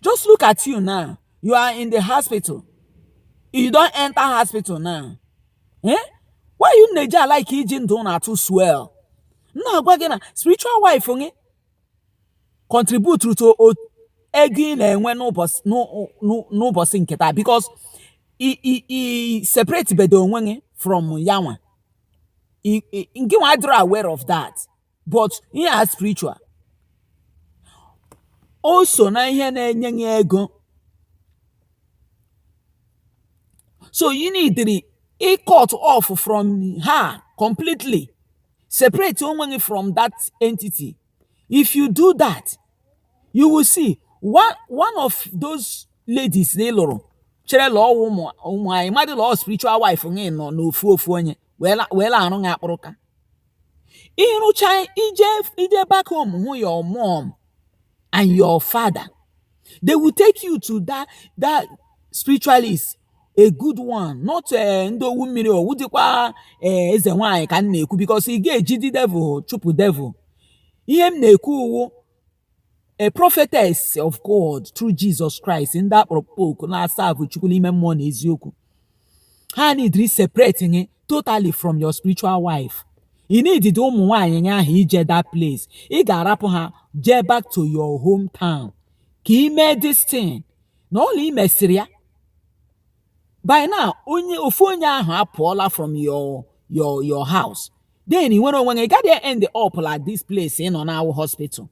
just look at you now you are in the hospital you don enter hospital now eh why you na-eji like iji ndụ na-atụ swell na-agwa gị na spiritual wife gị contribute to ego ị na-enwe n'ụbọsị nke taa because i separatebedị onwe gị from yanwa ngịnwa adịrọ aware of that but ihe a spiritual o so na ihe na-enye gị ego so ị needịrị ị cut off from her completely separate onwe gị from that entity if you do that you will see one one of those ladies na ị lụrụ chere la ọ wụ nwa mmadụ la spiritual wife gị nọ n'ofu ofu onye wee la- wee la arụ gị akpụrụka ị rụcha ije ije back home hụ your mom and your father they will take you to that that spiritualist a good one not eh, ndị owu mmiri ọ wụdịkwa eh, eze nwanyị ka m na-ekwu because ị ga-ejidị devil chụpụ devil ihe m na-ekwu wụ a prophetess of God through Jesus Christ ndị a kpọrọ oku na-aserve Chukwu n'ime mmụọ na eziokwu ha needịrị separate gị totally from your spiritual wife ị needịdị ụmụ nwaanyị gị ahụ ije that place ị ga-arapụ ha jee back to your hometown ka ị mee this thing na ọla ị mesịrị ya by now onye ofu onye ahụ apụọla from your your your house then ị nwere onwe gị ị gadị end up la this place ị nọ now wụ hospital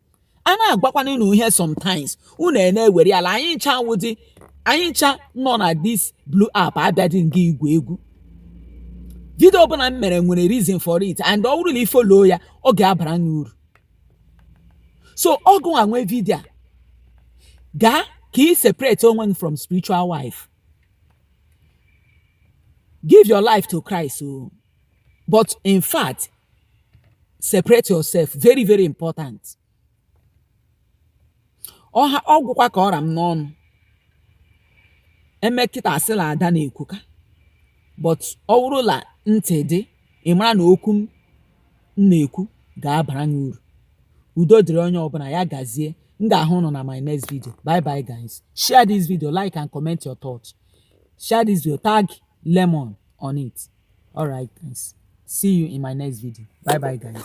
a na-agwakwana unu ihe sometimes unu na-ewere ya la anyị ncha ọ wụdị anyị ncha nọ na this blue app abịadị nga igwu egwu video ọbụla m mere nwere reason for it and ọ wụrụ la i follow ya ọ ga-abara gị uru so ọgụ anwe vidia gaa ka ị separate onwe gị from spiritual wife give your life to Christ o oh. but in fact separate yourself very very important ọ gwụkwa ka ọ ra m n'ọnụ e mee kịta a sị la Ada na-ekwuka but ọ wụrụ la ntị dị ị mara na okwu m na-ekwu ga-abara gị uru udo dịrị onye ọbụla ya gazie m ga-ahụ ụnụ na my next video bye bye guys share this video like and comment your thoughts share this video tag lemon on it all right guys see you in my next video bye bye guys